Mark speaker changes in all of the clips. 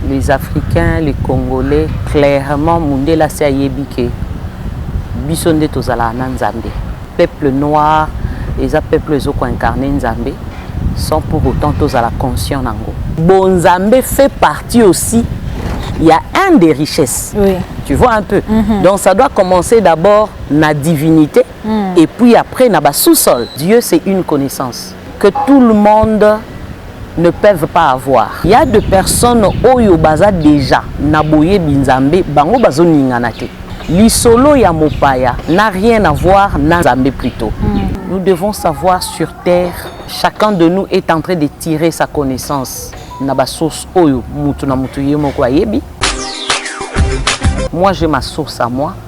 Speaker 1: Les africains, les congolais, clairement mundele asi ayebi ke biso nde tozalaka na nzambe peuple noir eza peuple ezo koincarne nzambe sans pour autant tozala conscient nango bonzambe fait partie aussi ya un des richesses oui. tu vois un
Speaker 2: peu mm
Speaker 1: -hmm. donc ça doit commencer d'abord na divinité mm. et puis après na ba sous-sol dieu c'est une connaissance que tout le monde ne peuvent pas avoir il y a de personnes oyo baza déjà na boyebi nzambe bango bazoningana te lisolo ya mopaya n'a rien à voir na nzambe plutôt mm. nous devons savoir sur terre chacun de nous est en train de tirer sa connaissance na basource oyo mutu na mutu ye moko ayebi moi j'ai ma source à moi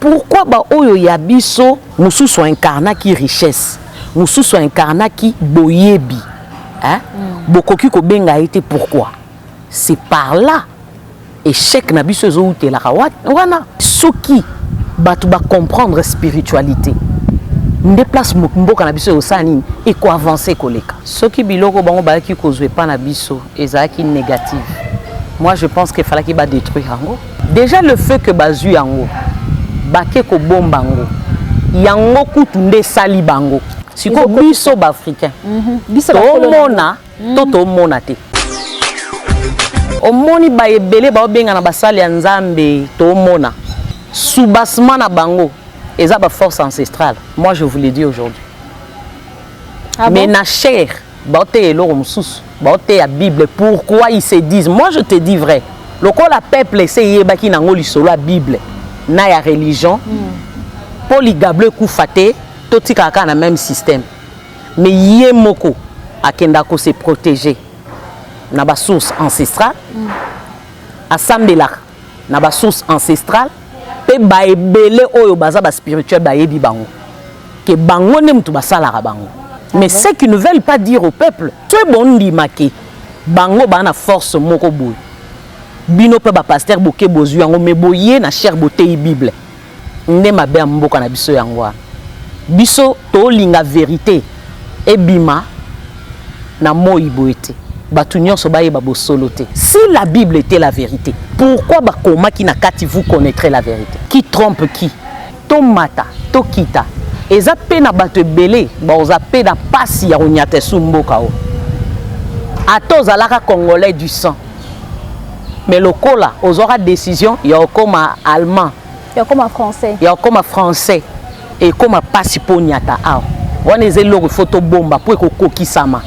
Speaker 1: Pourquoi ba oyo ya biso mususu incarnaki richesse, mususu incarnaki boyebi hein? Mm. Bokoki kobenga ye te pourquoi? C'est par là échec na biso ezowutelaka wana soki bato ba comprendre spiritualité nde place mboka na biso ekosala nini ekoavance koleka soki biloko bango bayaki kozwa epa na biso ezalaki négative moi je pense que efalaki badétruire yango Dejà le fait que bazui yango bake kobomba ngo yango kutu nde esali bango siko biso baafricain mhm. tomona mhm. to tomona te omoni baye ebele baobenga na basali ya nzambe tomona soubassement na bango eza baforce ancestrale moi je vous le dis aujourd'hui ah mais na chaire baoteya eloko mosusu baoteya bible pourquoi ils se disent moi je te dis vrai lokola peuple ese eyebaki nango lisolo ya bible na ya religion mpo hmm. ligablo ekufa te totikaka kaka na même système mais ye moko akenda kose protéger na basource ancestrale hmm. asambelaka na ba source ancestrale mpe baebele oyo baza ba spirituel bayebi bango ke bango nde moto basalaka bango mais ce qui ne veulent pas dire au peuple soki bondima ke bango baa na force moko boye bino mpe bapaster boke bozwi yango mais boye na chaire boteyi bible nde mabe ya mboka na biso yango wana biso tolinga verite ebima na moi boye te bato nyonso bayeba bosolo te si la bible était la vérité pourquoi bakomaki na kati vous connaîtrez la vérité qui trompe qui tomata tokita eza mpe na bato ebele baoza mpe na mpasi ya konyata esu mboka o ata ozalaka congolais du sang mais lokola ozwaka décision ya okoma allemand ya okoma français
Speaker 2: ya okoma français
Speaker 1: ekoma mpasi mpo onyata awa wana eza eloko ifo tobomba mpo ekokokisama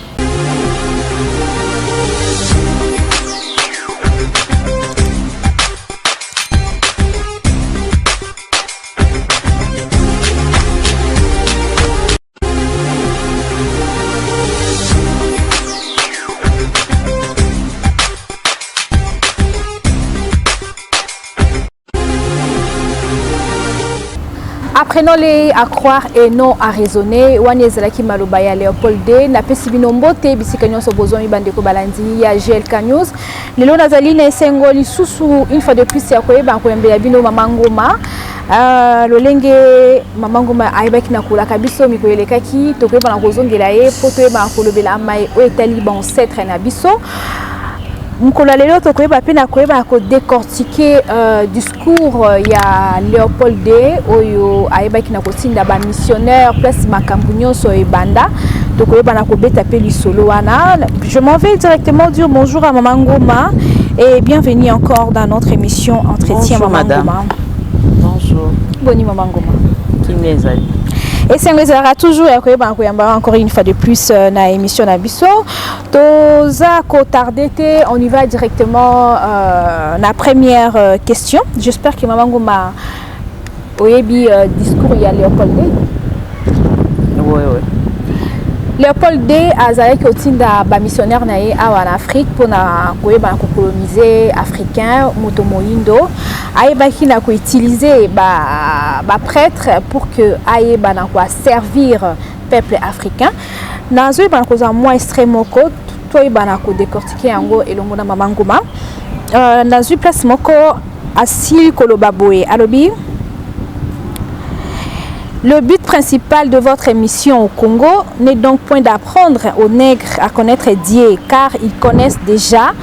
Speaker 2: apprenons les à croire et non à raisonner wana ezalaki maloba ya léopold d napesi bino mbote bisika nyonso bozwami bandeko balandi ya glk news lelo nazali na esengo lisusu une fois de plus ya koyeba koyambela bino mama ngoma Ah, lolenge mama ngoma ayebaki na kolaka biso mikolo elekaki tokoyeba na kozongela ye mpo toyeba na kolobela mai oyo etali bancetre na biso mokolo ya lelo tokoyeba mpe na koyeba na kodecortike uh, discours euh, ya léopold de oyo ayebaki na kotinda bamissionnaire place makambo nyonso ebanda tokoyeba na kobeta mpe lisolo wana je m'en vais directement dire bonjour à mama ngoma et bienvenue encore dans notre émission entretien mama ngoma Bonjour.
Speaker 1: Boni maman
Speaker 2: Ngoma. Kimia ezali.
Speaker 1: esengo
Speaker 2: ezalaka toujours ya koyebana koyamba encore une fois de plus euh, na émission na biso toza kotarde te on y va directement euh, na première euh, question j'espère que mama ngoma oyebi euh,
Speaker 1: discours ya
Speaker 2: léopold d oui,
Speaker 1: oui.
Speaker 2: léopold d azalaki kotinda bamissionnaire na ye awa na afrique mpona koyebana kokolonize africain moto moyindo ayebaki na ko utiliser ba ba prêtres pour que ayeba na ko servir peuple africain nazo yeba na kozwa mwa extrait moko toyeba na ko décortiquer yango elongo na mama nguma euh, nazwi place moko asili koloba boye alobi Le but principal de votre émission au Congo n'est donc point d'apprendre aux nègres à connaître Dieu, car ils connaissent déjà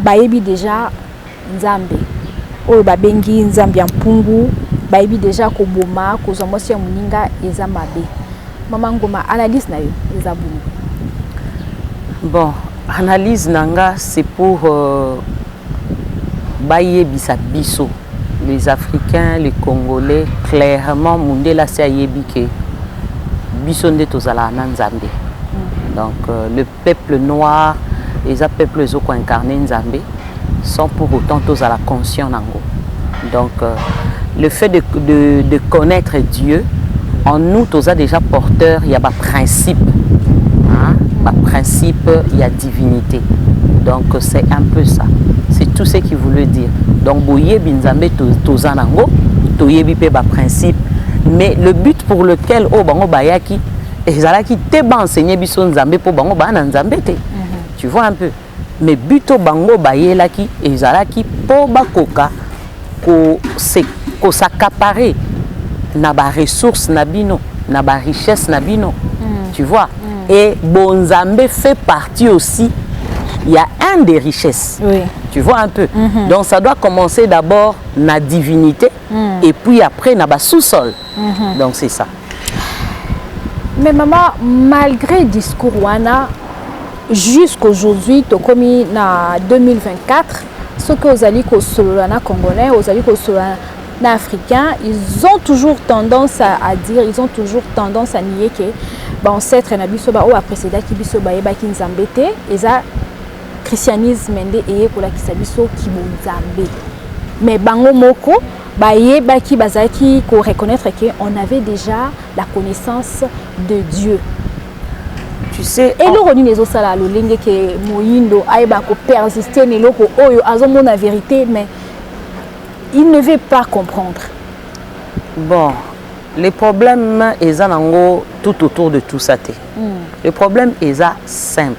Speaker 2: Bayebi dejà nzambe oyo babengi nzambe ya mpungu bayebi dejà koboma kozwa mwasi ya moninga eza mabe mama ngoma analyse na yo eza boni
Speaker 1: bon analyse na nga c'est pour euh, bayebisa biso les africains les congolais clairement mundela asi ayebi ke biso nde tozalaka na nzambe mm. donc euh, le peuple noir eza peuple ezo ko incarner nzambe sans pour autant tozala conscient nango donc euh, le fait de, de, de connaître dieu en nous toza déjà porteur ya ba principe hein? ba principe ya divinité donc c'est un peu ça c'est tout ce qu'il voulait dire donc boyebi nzambe toza nango toyebi mpe ba principe mais le but pour lequel oyo oh, bango bayaki ezalaki te ba enseigner biso nzambe mpo bango baa na nzambe te mhm. tu vois un peu mais but oyo bango bayelaki ezalaki mpo bakoka kosakapare na baressource na bino na barichesse na bino mm. tu vois mm. et bonzambe fait partie aussi il y a un des richesses. Oui. Tu vois un peu. Mm -hmm. Donc ça doit commencer d'abord na divinité mm. et puis après na bas sous-sol. mm -hmm. donc c'est ça
Speaker 2: mais maman malgré discours wana jusqu'aujourd'hui tokomi na 2024 soki ozali kosolola na congolais ozali kosolola na africain ils ont toujours tendance à, à dire ils ont toujours tendance à nier que baancetre na biso baoyo baprecedaki biso bayebaki nzambe te eza christianisme nde eye kolakisa biso kibonzambe mais bango moko bayebaki bazalaki ko reconnaître que on avait déjà la connaissance de Dieu
Speaker 1: tu sais eloko nini ezosala
Speaker 2: lolenge ke moyindo ayeba kopersiste na eloko oyo azomona vérité mais il ne veut pas comprendre
Speaker 1: bon le problème eza nango tout autour de tout ça te mm. le problème eza simple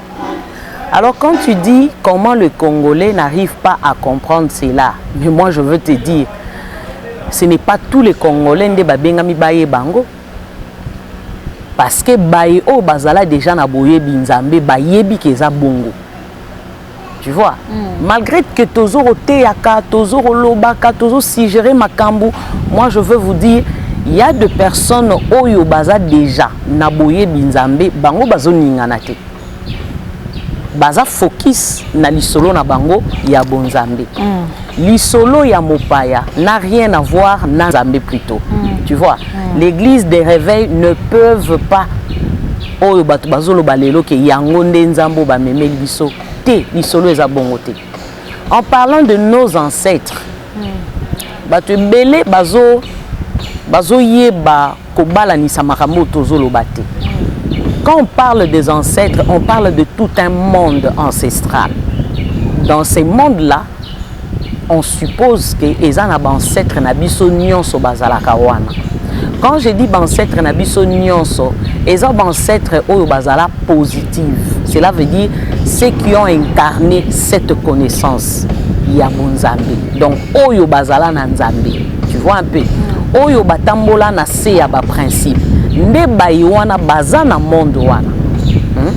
Speaker 1: Alors quand tu dis comment le Congolais n'arrive pas à comprendre cela, mais moi je veux te dire, ce n'est pas tous les Congolais nde babengami baye bango. Parce que baye oyo bazala déjà na boyebi Nzambe bayebi keza bongo. tu vois mm. malgré que tozo koteyaka tozo kolobaka tozo suggérer makambu moi je veux vous dire il y a de personnes oyo baza déjà na boyebi nzambe bango bazoningana te baza focus na lisolo na bango ya bonzambe mm. lisolo ya mopaya n'a rien à voir na nzambe plutôt mm. tu vois mm. l'église des réveils ne peuvent pas oyo bato bazoloba lelo ke yango nde nzambe oyo bamemeli biso te lisolo eza bongo te en parlant de nos ancêtres hmm. bato ebele bazo bazoyeba kobalanisa makambo oyo tozoloba te hmm. quand on parle des ancêtres on parle de tout un monde ancestral dans ce monde là On suppose que eza na ba ancêtre na biso nionso bazalaka wana. Quand je dis ba ancêtre na biso nionso, eza ba ancêtre oyo bazala positive. Cela veut dire ceux qui ont incarné cette connaissance ya bonzambe. Donc oyo bazala na nzambe. Tu vois un peu? Oyo batambola na se ya ba principes. Nde bayi wana baza na monde wana. Hmm?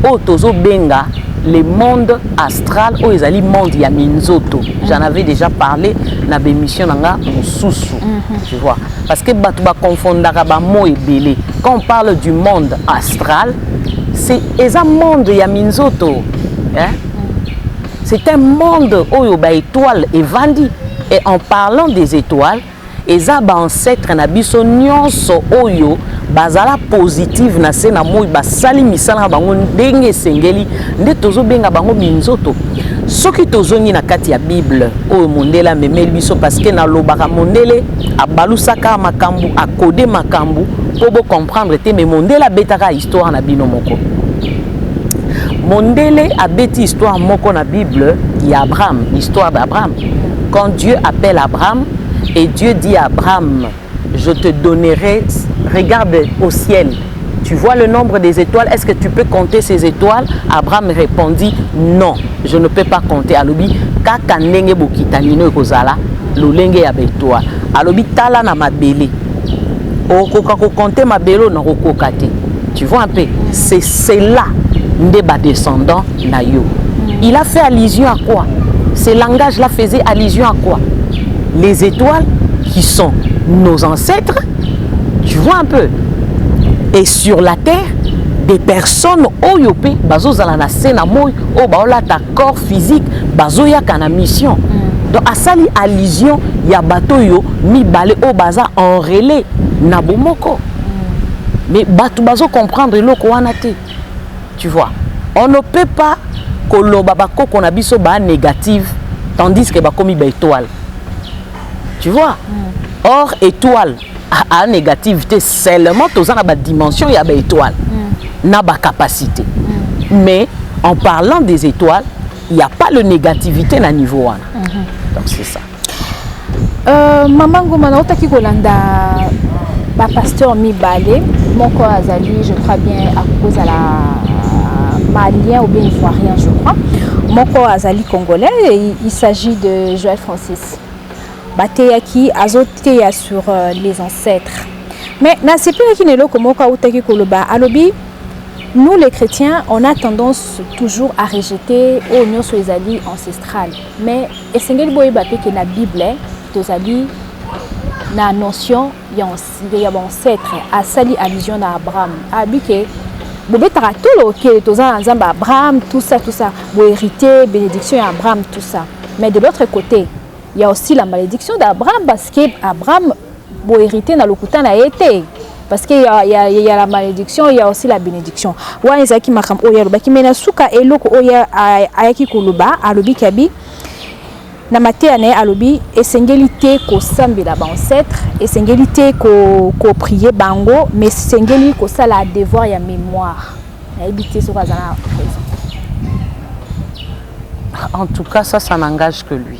Speaker 1: Oyo tozo benga le monde astral oyo ezali monde ya minzoto j'en avais déjà parlé na bémission na nga mosusu mhm. tu vois parce que bato baconfondaka bamo ebele quand on parle du monde astral c'est eza monde ya minzoto hein? c'est un monde oyo baétoile evandi et en parlant des étoiles Eza ba ancetres na biso nionso oyo bazala positive na se na moi basali misala na bango ndenge esengeli nde tozobenga bango minzoto soki tozongi na kati ya bible oyo mondele amemeli biso parceke nalobaka mondele abalusaka makambo akode makambo mpo bocomprendre te me mondele abetaka histoire na bino moko mondele abeti histoire moko na bible ya abraham histoire d'abraham Quand Dieu appelle Abraham et Dieu dit à Abraham, je te donnerai, regarde au ciel, tu vois le nombre des étoiles, est-ce que tu peux compter ces étoiles Abraham répondit, non, je ne peux pas compter. Alobi, kaka ndenge bokitanino ekozala, lolenge ya betoile. Alobi, tala na mabele. Okoka ko compter mabele na kokoka te. Tu vois un peu, c'est cela nde ba descendants na yo il a fait allusion à quoi ce langage là faisait allusion à quoi les étoiles qui sont nos ancêtres tu vois un peu et sur la terre des personnes oyo mpe bazozala na se na moi oyo baolata corps physique bazoyaka na mission mm. donc asali allusion ya bato oyo mibale oyo baza en relais na bomoko mm. mais bato bazocomprendre eloko wana te Tu vois, on ne peut pas koloba bakoko na biso ba négative tandis que bakomi ba étoile. Tu vois? Mm. Or étoile a négative te seulement toza na ba dimension ya ba étoile mm. na ba capacité. Mm. Mais en parlant des étoiles, il n'y a pas le négativité na niveau wana. Mm -hmm. Donc c'est ça.
Speaker 2: Euh, mama ngoma nautaki kolanda bapasteur mibale moko azali je crois bien akoki kozala malien ou bien ivoirien je crois moko azali congolais il s'agit de joel francis bateyaki azoteya sur euh, les ancêtres mais nasepelaki na eloko moko autaki koloba alobi nous les chrétiens on a tendance toujours à rejeter oyo nyonso ezali ancestral Mais esengeli boyeba pe que na Bible tozali na notion ya ya ba ancêtre asali allusion na Abraham abi que bobetaka tolo okele toza na nzambe Abraham tout ça tout ça bo hérité bénédiction ya Abraham tout ça mais de l'autre côté il y a aussi la malédiction d'Abraham parce que Abraham Bo heriter na lokuta na ye te. Parce qu'il y, a, y, a, y a la malédiction, il y a aussi la bénédiction. Wana ezalaki makambo oyo alobaki, mais na suka eloko oyo ayaki koloba, alobi kabi na mateya na ye alobi esengeli te kosambela baancetre esengeli te koprie ko bango mais esengeli kosala devoir ya mémoire nayebi te soki aza na raison
Speaker 1: en tout cas ça ça n'engage que lui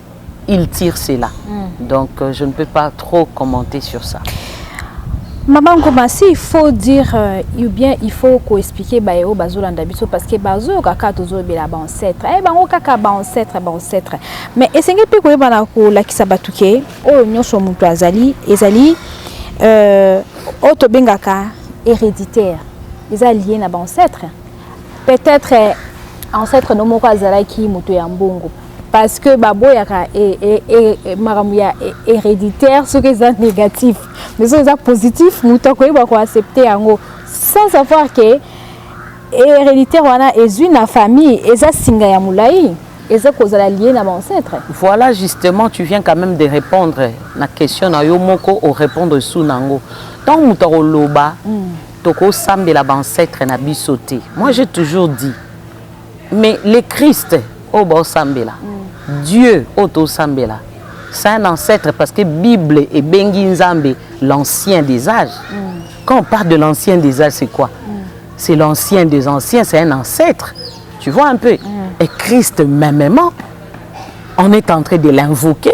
Speaker 1: il tire cela. Mm. Donc euh, je ne peux pas trop commenter sur ça. Maman
Speaker 2: Ngoma, si il faut dire euh, ou bien il faut ko expliquer ba yo bazolanda biso parce que bazo kaka tozo bela ba ancêtre. Eh bango kaka ba ancêtre ba ancêtre. Mais esenge pe ko yeba na ko lakisa batuke oyo nyonso mutu azali ezali euh oyo tobengaka héréditaire eza lié na ba ancêtre peut-être ancêtre no moko azalaki moto ya mbongo parce que baboyaka e, e, e, makambo ya héréditaire soki eza négatif mais soki eza positif moto akoyeba koaccepte yango sans savoir que héréditaire wana ezwi na famille eza singa ya molai eza kozala lie na baancetre voilà justement
Speaker 1: tu viens quand même de répondre na question na yo moko orépondre su na yango ntango moto akoloba mm. Toko sambela ba ancetres na biso te. Moi j'ai toujours dit mais le Christ oyo bao sambela, mm. Dieu oyo to sambela, c'est un ancêtre parce que Bible ebengi Nzambe l'ancien des âges. Mm. Quand on parle de l'ancien des âges, c'est quoi mm. C'est l'ancien des anciens, c'est un ancêtre. Tu vois un peu mm. Et Christ, mêmement, on est en train de l'invoquer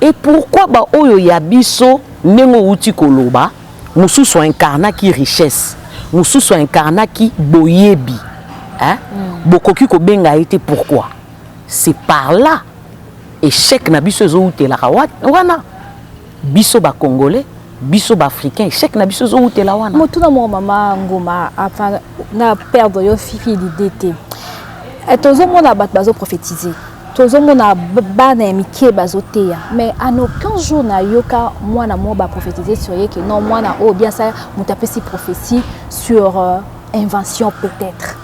Speaker 1: Et pourquoi ba oyo ya biso ndenge owuti koloba mususu a incarnaki richesse mususu a incarnaki boyebi hein bokoki kobenga ye te pourquoi c'est par là echec na biso ezowutelaka wana biso ba congolais biso ba africain echec na biso ezowutela wana motuna moko mama
Speaker 2: ngoma enfin na perdre yo fifi l'idée te tozomona bato bazo prophétiser tozomona bana ya mike bazoteya mais en aucun jour nayoka mwana moko baprophétise sur ye ke non mwana oyo bien sa moto apesi prophétie sur euh, invention peut-être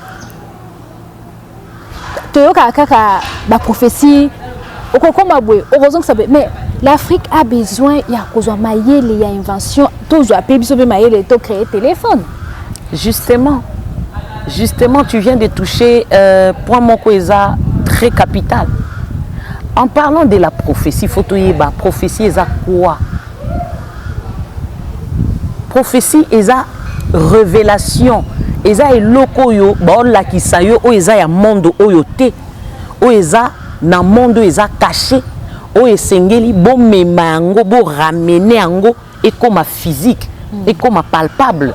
Speaker 2: toyokaka kaka baprophétie okokoma boye okozongisa boye mais l'afrique a besoin ya kozwa mayele ya invention tozwa pe biso pe mayele to créer téléphone justement
Speaker 1: justement tu viens de toucher euh, point moko eza très capital en parlant de la prophétie faut toyeba prophétie eza quoi prophétie eza révélation eza eloko oyo baolakisa yo oyo eza ya monde oyo te oyo eza na monde oyo eza caché oyo esengeli bomema yango boramene yango ekoma physique mm. ekoma palpable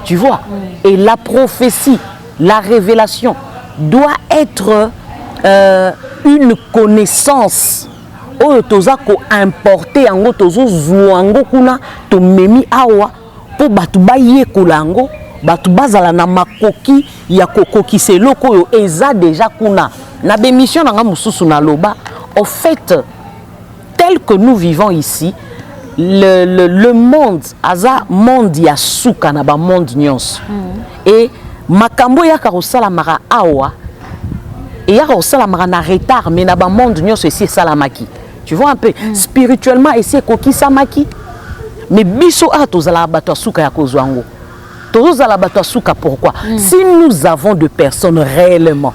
Speaker 1: tu vois mm. et la prophétie la révélation doit être euh, une connaissance oyo toza koimporte yango tozozwa yango kuna tomemi awa mpo bato bayekola yango bato bazala na makoki ya kokokisa eloko oyo eza deja kuna na bemission na ngai mosusu naloba au fait Tel que nous vivons ici, le, le, le monde aza monde ya suka na ba monde nyonso mm. et makambo eyaka kosalamaka awa eyaka kosalamaka na retard mais na ba monde nyonso esi esalamaki tu vois un peu mm. spirituellement esi ekokisamaki mais biso awa tozalaka bato ya suka ya kozwa yango tozozala bato ya suka pourquoi mm. si nous avons de personnes réellement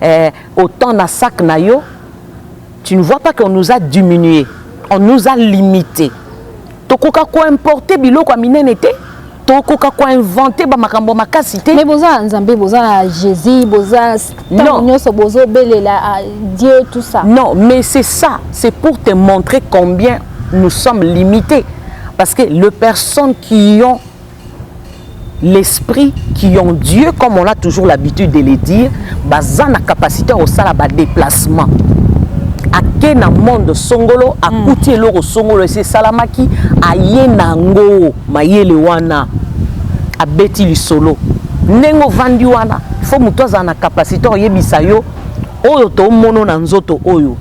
Speaker 1: Eh, autant na sac na yo, tu ne vois pas qu'on nous a diminué, on nous a limité. Tokoka ko importer biloko ya minene te, tokoka ko inventer ba makambo makasi te. Mais boza Nzambe, boza
Speaker 2: Jésus, boza tango nyoso bozo belela ah, Dieu tout ça. Non, mais c'est ça,
Speaker 1: c'est pour te montrer combien nous sommes limités parce que les personnes qui ont l'esprit qui ont Dieu comme on a toujours l'habitude de le dire baza na capacité ya kosala badeplacement ake na monde songolo akuti hmm. eloko songolo esi esalamaki aye na yango mayele wana abeti lisolo ndenge ovandi wana fo moto azala na capacité oyebisa yo oyo tomono na nzoto oyo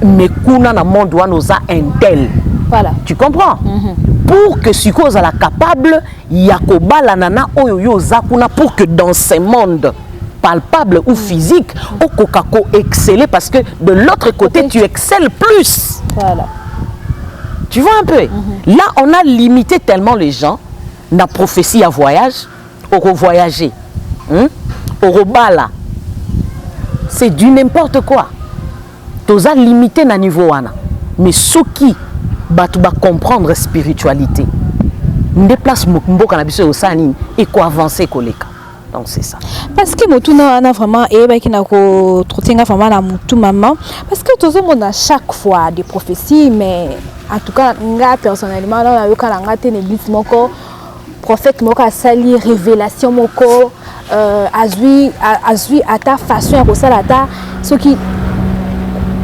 Speaker 1: mais kuna na monde wana oza intel voilà. tu
Speaker 2: comprends mm -hmm.
Speaker 1: pour que sikoyo ozala capable ya kobalana na oyo yo oza kuna pour que dans ce monde palpable ou physique okoka ko exceller parce que de l'autre côté tu excelles plus voilà. tu vois un peu mm -hmm. là on a limité tellement les gens na prophétie à voyage oko voyager hmm? okobala c'est du n'importe quoi toza limité na niveau wana mais soki bato bacomprendre spiritualité nde place mboka na biso ekosala nini ekoavance koleka donc c'est ça parce que motuna
Speaker 2: wana vraiment eyebaki na kotrote nga vraiment na motu mama parce que tozomona chaque fois des prophéties mais en tout cas nga personnellement nao nayoka na nga te na église moko prophète moko asali révélation moko euh, azui azui ata façon ya kosala ata soki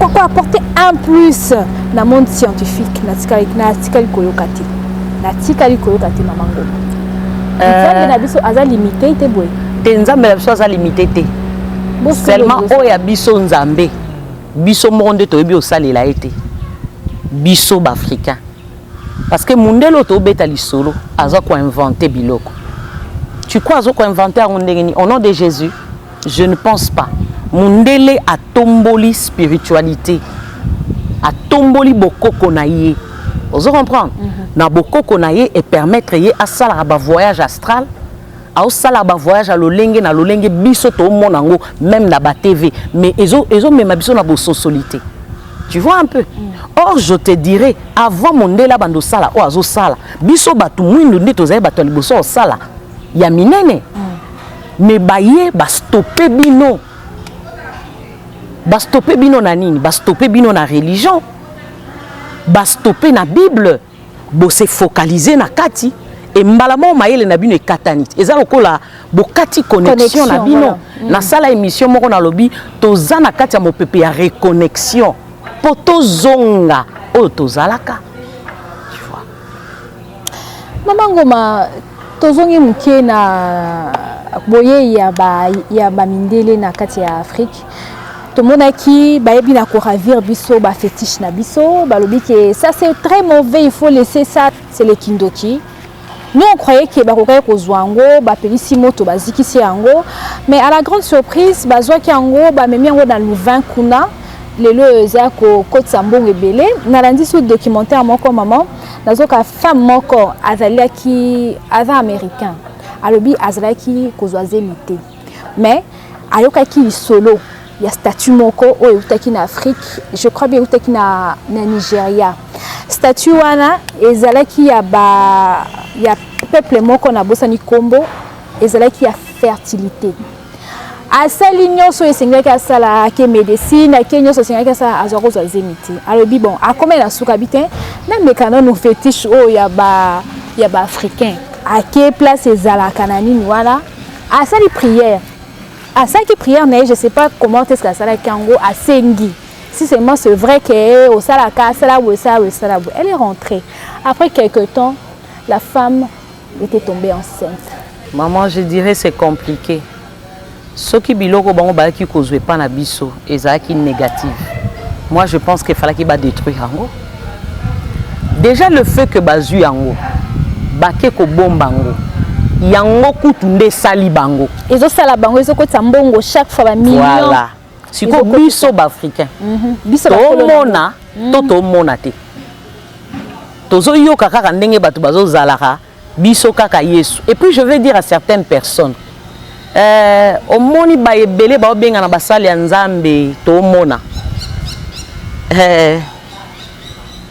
Speaker 2: koko apporte un plus na monde scientifique natikali natikali koyoka te natikali koyoka te mama ngoma euh, nzambe na biso aza limite te boye te nzambe na biso aza
Speaker 1: limite te seulement oyo ya biso nzambe biso moko nde toyebi osalela ye te biso baafricain Parce que mundele oyo tobeta lisolo aza ko inventer biloko. Tu crois azo ko inventer yango ndenge nini? Au nom de Jésus, je ne pense pas. Mundele atomboli spiritualité. Atomboli bokoko na ye. Ozo comprendre? Mm -hmm. Na bokoko na ye et permettre ye asala ba voyage astral. aosala ba voyage ya lolenge na lolenge biso toomona yango meme na ba tv mais ezomema ezo biso na bososoli te tu vois un peu mm. or je te dirai avant mondele abanda osala oyo azosala biso bato mwindu nde tozali bato ya liboso osala ya minene mm. mais baye bastope bino bastope bino na nini bastope bino na religion bastope na bible Bo se focaliser na kati et mbala moko mayele na bino ekatani. Eza lokola bokati connexion, connexion na bino. Voilà. Mm. Na sala émission moko na lobi toza na kati ya mopepe ya reconnexion po tozonga oyo tozalaka. Tu vois.
Speaker 2: Mama Ngoma tozongi moke na boyei ya ba ya ba mindele na kati ya Afrique. tomonaki bayebi na koravir biso ba fetiche na biso balobi ke ça c'est très mauvais il faut laisser ça c'est le kindoki nous on croyait ke bakokaki kozwa yango bapelisi moto bazikisi yango mais à la grande surprise bazwaki yango bamemi yango na louvain kuna lelo oyo eza kokotisa mbongo ebele nalandi su documentaire moko mama nazoka femme moko azalaki aza américain alobi azalaki kozwa zemi te mais ayokaki lisolo ya statut moko oyo eutaki na afrique je crois bien eutaki na, na nigeria statut wana ezalaki ya, ba, ya peuple moko nabosani nkombo ezalaki ya fertilité asali nyonso oyo esengelaki asala ake médecine ake nyonso esengelaki asala azwa kozwa zemi te alobi bon akomeli na suka bi te nameka nanu fétiche oyo ya baafricain ake place ezalaka na nini wana asali prière asalaki prière na ye je sais pas comment est ce que asalaki yango asengi si seulement c'est vrai que eh, osalaka asala boye sala boye sala boye elle est rentrée après quelque temps la femme était tombée enceinte maman je
Speaker 1: dirais c'est compliqué soki biloko bango bayaki kozwa epa na biso ezalaki négative moi je pense que falaki ba détruire yango déjà le fait que bazwi yango bake kobomba yango yango kutu nde esali bango ezosala bango
Speaker 2: ezokotisa mbongo chaque fois bamillion voilà. sikoyo
Speaker 1: biso baafricain mm -hmm.
Speaker 2: tomona mm -hmm. to
Speaker 1: tomona te tozoyoka kaka ndenge bato bazozalaka Biso kaka yesu et puis je vais dire à certaines personnes euh, omoni ba ebele baobengana basali ya nzambe tomona euh,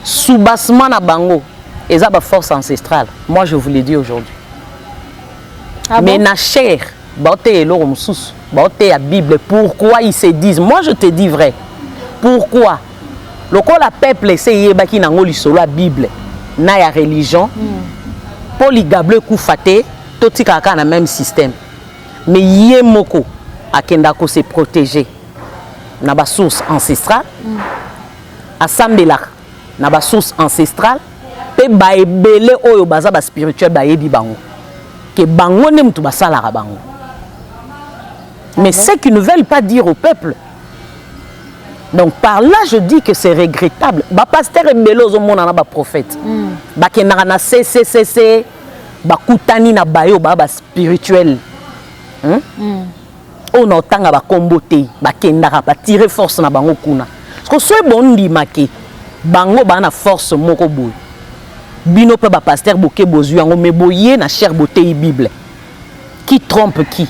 Speaker 1: soubassement na bango eza ba force ancestrale moi je vous le dis aujourd'hui ah mais bon? na chair baoteya eloko mosusu baoteya bible pourquoi ils se disent moi je te dis vrai pourquoi lokola peuple ese eyebaki nango lisolo ya bible na ya religion mpo hmm. ligablo ekufa te totikaka kaka na même système mais ye moko akenda kose protéger na basource ancestrale hmm. asambelaka na ba source ancestrale mpe baebele oyo baza ba spirituel bayebi bango ke bango nde moto basalaka bango mais ce qui ne veulent pas dire au peuple donc par là je dis que c'est regrettable bapasteur ebele ozomona na baprophète mm. bakendaka na cccc bakutani na baye oyo baa baspirituel hmm? mm. oyo na otanga ba kombo te bakendaka ba tirer force na bango kuna siko soki bondima ke bango baa na force moko boye bino mpe ba pasteur boke bozwi yango mais boye na chair boteyi bible qui trompe qui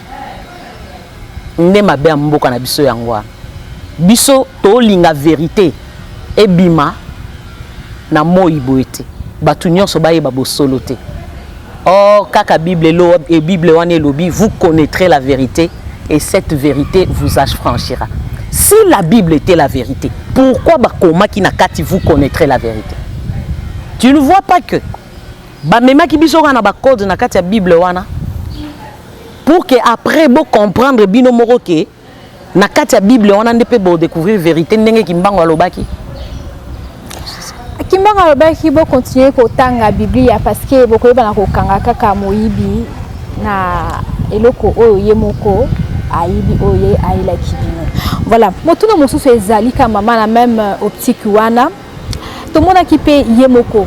Speaker 1: nde mabe ya mboka na biso yango wana biso tolinga verite ebima na moi boye ete bato nyonso bayeba bosolo te or kaka bible elo e bible wana elobi vous connaîtrez la vérité et cette vérité vous affranchira si la bible était la vérité pourquoi bakomaki na kati vous connaîtrez la vérité tu ne vois pas que bamemaki biso kaka na bacode na kati ya bible wana pour que après bocomprendre bino moko ke Na kati ya Bible wana nde pe bo découvrir verite ndenge Kimbangu alobaki.
Speaker 2: Kimbangu alobaki bo continuer kotanga Biblia parce que bokoyebana kokanga kaka moyibi na eloko oyo ye moko ayibi oyo ye ayelaki bino. Voilà, motuna mosusu ezali ka mama na meme euh, optique wana tomonaki pe ye moko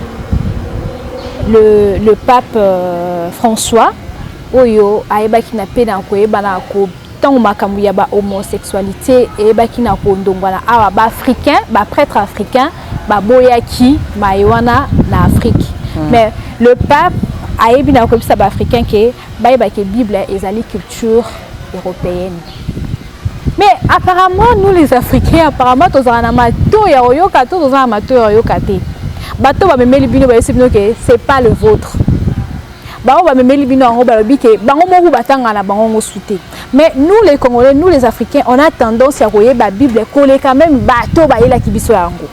Speaker 2: le, le pape euh, François oyo ayebaki na pe na koyebana ko ntango makambo ya ba homosexualité eyebaki na kondongwana awa ba africain ba prêtre africain baboyaki maye wana na afrique mm. mais le pape ayebi na koyebisa ba africain ke bayeba ke bible ezali culture européenne mais apparemment nous les africains apparemment tozala na mato ya oyoka to tozala na mato ya oyoka te bato bamemeli bino bayebisi bino ke c'est pas le vôtre bango bamemeli bino yango balobi ke bango moko batanga na bango ngo sute mais nous les congolais nous les africains on a tendance ya koyeba bible koleka meme bato bayelaki biso yango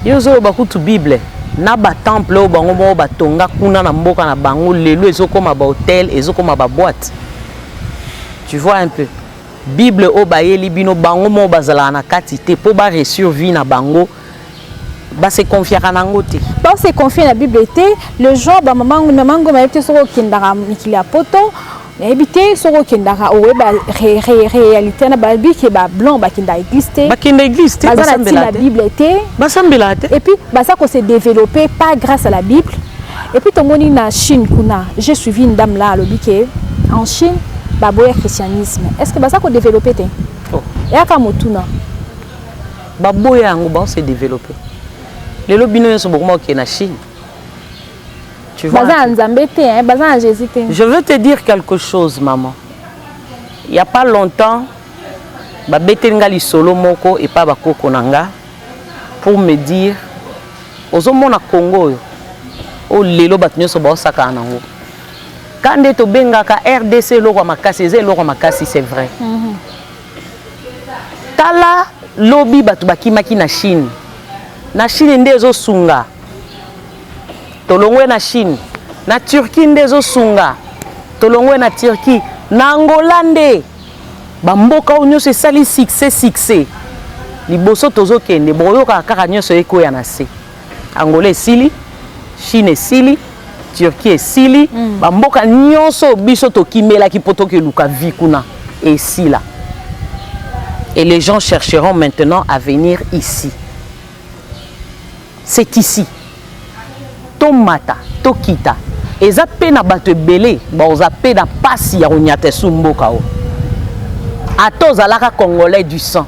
Speaker 2: yo
Speaker 1: ozoloba kutu bible na batemple oyo bango moko batonga kuna na mboka na bango lelo ezokoma bahotel ezokoma baboite tu vois un peu bible oyo bayeli bino bango moko bazalaka na kati te mpo baresur vie na bango ba se confiaka na yango te ba se confie na
Speaker 2: bible te le genre ba mama ngombe mama ngombe ayebi te soki okendaka mikili ya poto nayebi te soki okendaka oyeba réalité na babi ke ba blanc bakenda église te bakenda église te baza na
Speaker 1: ntina ya bible
Speaker 2: te basambelaka te et
Speaker 1: puis baza ko se
Speaker 2: développer pas grâce à la bible et puis tomoni na chine kuna j'ai suivi une dame là alobi ke en chine baboya christianisme est ce que baza ko développer te oh. eyaka
Speaker 1: motuna Baboya yango bao se developper. Lelo bino nyoso bokoma kokende na Chine. Tu vois? Baza na Nzambe te, hein? baza na
Speaker 2: Jésus te. Je veux te
Speaker 1: dire quelque chose maman. Il y a pas longtemps babeteli nga lisolo moko epa bakoko na nga pour me dire ozomona Congo oyo oyo lelo bato nyonso baosakana nango ka nde tobengaka rdc eloko ya makasi eza eloko ya makasi c'est vrai mm -hmm. Tala lobi bato bakimaki na Chine. Na Chine nde ezosunga. Tolongwe na Chine. Na Turquie nde ezosunga. Tolongwe na Turquie. Na Angola nde bamboka oyo nyonso esali succès succès. Liboso tozokende bokoyokaka kaka nyonso ekweya na se. Angola esili, Chine esili, Turquie esili, mm. ba mboka nyonso biso tokimelaki poto ke luka vie kuna esila. Et les gens chercheront maintenant à venir ici. C'est ici. Tomata, tokita. Eza pe na bato ebele, ba oza pe na pasi ya konyata sumboka o. Ata ozalaka congolais du sang.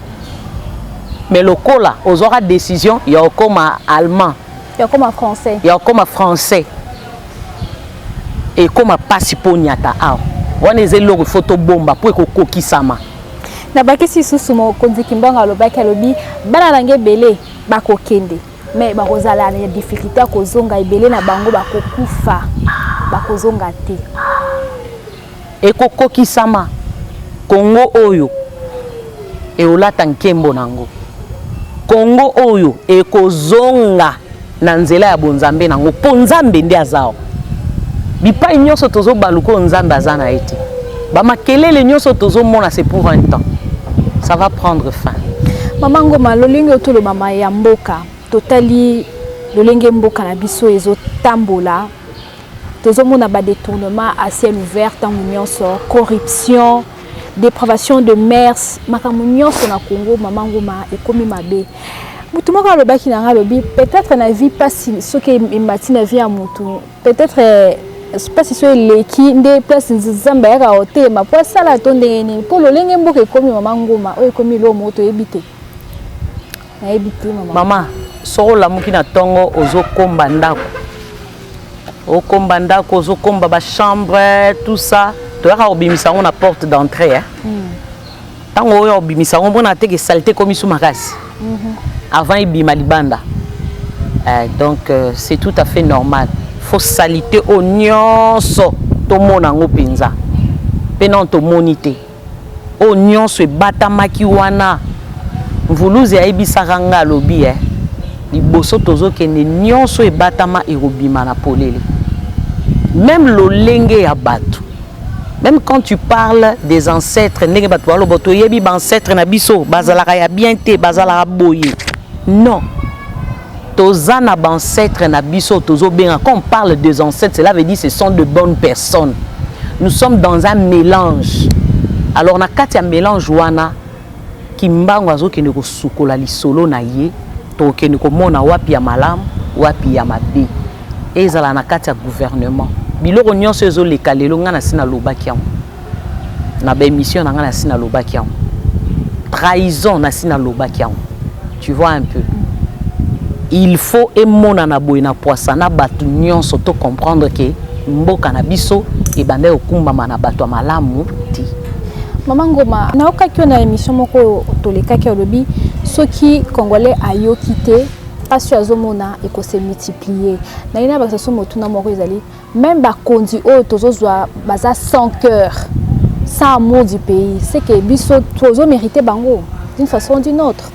Speaker 1: mais lokola ozwaka décision ya okoma allemand ya okoma français
Speaker 2: ya okoma français
Speaker 1: ekoma mpasi mpo onyata awa wana eza eloko ifo tobomba mpo ekokokisama nabakisi
Speaker 2: lisusu mokonzi kimbango alobaki alobi bana na nge ebele bakokende me bakozala na difficulté ya kozonga ebele na bango bakokufa bakozonga te
Speaker 1: Ekokokisama Congo oyo eolata nkembo na yango. Congo oyo ekozonga na nzela ya bonzambe na yango mpo Nzambe nde aza awa. Bipai nyonso tozobaluka oyo Nzambe aza na ye te. Bamakelele nyonso tozomona c'est pour un temps. Ça va prendre fin. Mama Ngoma,
Speaker 2: lolenge oyo tolobama ya mboka, totali lolenge mboka na biso ezotambola tozomona ba detournement à ciel ouvert ntango nyonso corruption depravation de mers makambo nyonso na congo mama nguma ekomi mabe motu moko alobaki na ngai alobi peut-être na vie mpasi soki emati na vie ya motu peut-être eh, mpasi so eleki nde place nzambe ayaka kotelema mpo asala to ndenge nini mpo lolenge mboka ekomi mama nguma oyo ekomi eloo moko toyebi te nayebi te mama mama soki
Speaker 1: olamuki na ntongo ozokomba ndako okomba ndako ozokomba bachambre tout ça toyaka kobimisa yango na porte d'entrée eh? mm. ntango oyo obimisa yango mona teke salite ekomi su makasi mhm. avant ebima libanda eh, donc euh, c'est tout à fait normal fo salite oyo nyonso tomona yango mpenza mpe nano tomoni te Oyo nionso ebatamaki wana Mvuluzi ayebisaka nga alobi eh liboso tozokende nionso ebatama ekobima na polele meme lolenge ya batu meme quand tu parles des ancêtres ndenge batu baloba toyebi ba ancêtres na biso bazalaka ya bien te bazalaka boye non Toza na ba ancetres na biso tozo benga quand on parle des ancêtres cela veut dire ce sont de bonnes personnes. Nous sommes dans un mélange. Alors na kati ya mélange wana Kimbangu azokende kosukola lisolo na ye tokende komona wapi ya malamu wapi ya mabe ezala na kati ya gouvernement biloko nyonso ezoleka lelo ngai nasi nalobaki yango na ba émission na nga na si na lobaki yango trahison na si na lobaki yango tu vois un peu il faut emonana boye na poisa na bato nyonso to comprendre ke mboka na biso ebandaki kokumbama na bato ya malamu te mama
Speaker 2: ngoma nayokaki yo na émission moko tolekaki olobi soki congolais ayoki te mpasi oyo azomona ekose multiplier naye na bakisa so motuna moko ezali Meme ba konzi oyo tozo zwa baza sans cœur, sans amour du pays. C'est que biso tozo mériter bango d'une façon ou d'une autre.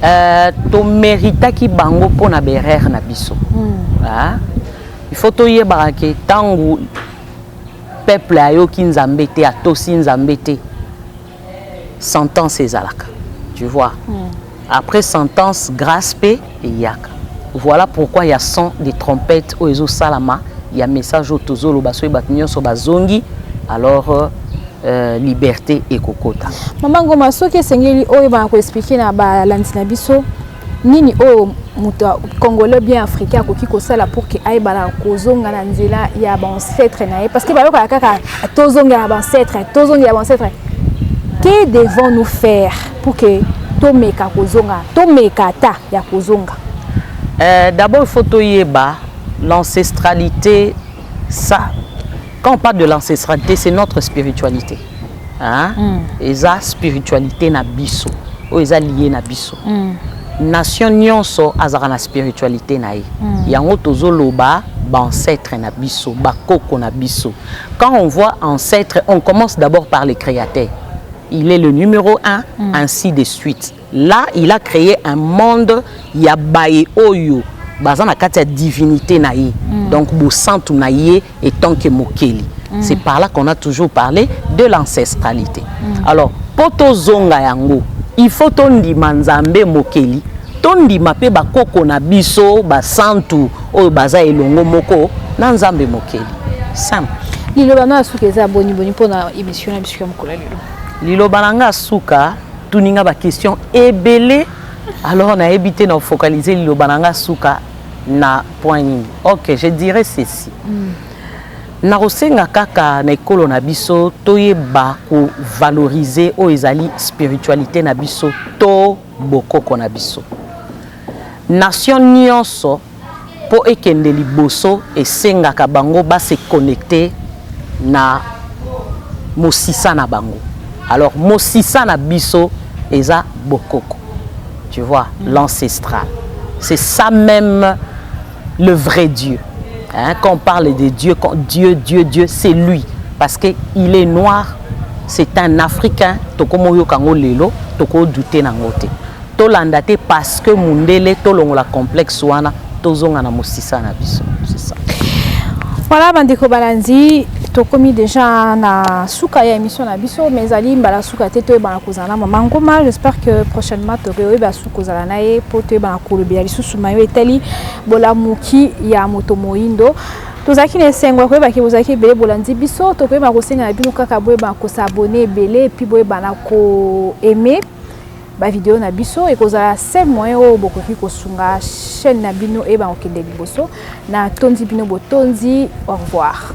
Speaker 2: Euh, to
Speaker 1: méritaki bango pona berere na biso. Mm. Ah. Il faut toyebaka ke tango peuple ayoki Nzambe te, atosi Nzambe te. sentence ezalaka tu vois mm. après sentence grâce pe eyaka voilà pourquoi ya son de trompette oyo ezosalama ya message oyo tozoloba soki bato nyonso bazongi alors euh, euh, liberté ekokota mama ngoma soki
Speaker 2: esengeli oyebana koexplike na balandi na biso nini oyo moto ya congolais bien africain akoki kosala pour ke ayebana kozonga na nzela ya baancetre na ye parce que bayokaka kaka tozongela baancetre tozongela baancetre que devons nous faire pour ke tomeka kozonga tomeka ata ya kozonga euh,
Speaker 1: d'abord il faut toyeba l'ancestralité ça quand on parle de l'ancestralité c'est notre spiritualité hein mm. eza spiritualité na biso oyo eza lié na biso mm. nation nyonso azalaka na spiritualité na ye mm. yango tozoloba baancetre na biso bakoko na biso quand on voit ancêtre on commence d'abord par le créateur il est le numéro un mm. ainsi de suite Là, il a cree un monde ya baye oyo baza na kati ya divinite na ye mm. donc bosantu na ye etant que mokeli mm. c'est par là qu'on a toujours parlé de l'ancestralité mm. alors mpo tozonga yango il faut tondima nzambe mokeli tondima mpe bakoko na biso basantu oyo baza elongo moko na nzambe mokeli simple liloba na
Speaker 2: suka eza boniboni mpo na émission na biso ya mokolo ya lelo liloba na ngai ya
Speaker 1: suka Tuni nga ba question ebele alors na yebi te na focaliser liloba na nga suka na point nini. OK, je dirais ceci. Mm. Na kosenga kaka na ekolo na biso toyeba ko valoriser oyo ezali spiritualité na biso to bokoko na biso. Nation nyonso Mpo ekende liboso, esengaka bango ba se connecter na mosisa na bango. Alors mosisa na biso eza bokoko. Tu vois, l'ancestral. C'est ça meme le vrai Dieu. Hein? Quand on parle de Dieu, quand Dieu, Dieu, Dieu, c'est lui. Parce qu'il est noir, c'est un Africain, toko moyo kango lelo, toko douter nango te. Tolanda te parce que mundele tolongola complexe wana tozonga na musisa na biso. Voilà
Speaker 2: bandeko balandi tokomi déjà na suka ya émission na biso mais ezali mbala suka te toyebana kozala na mama ngoma j'espère que prochainement tokoyeba suka kozala na ye mpo toyebana kolobela lisusu mayo etali bolamuki ya moto moyindo tozalaki na esengo ya koyebaki bozalaki ebele bolandi biso tokoyebana kosenga na bino kaka boyebana kosabone ebele mpe boyebana koaime ba video na biso ekozala seul moyen oyo bokoki kosunga chaîne na bino eyebaka kokende liboso na tondi bino botondi au revoir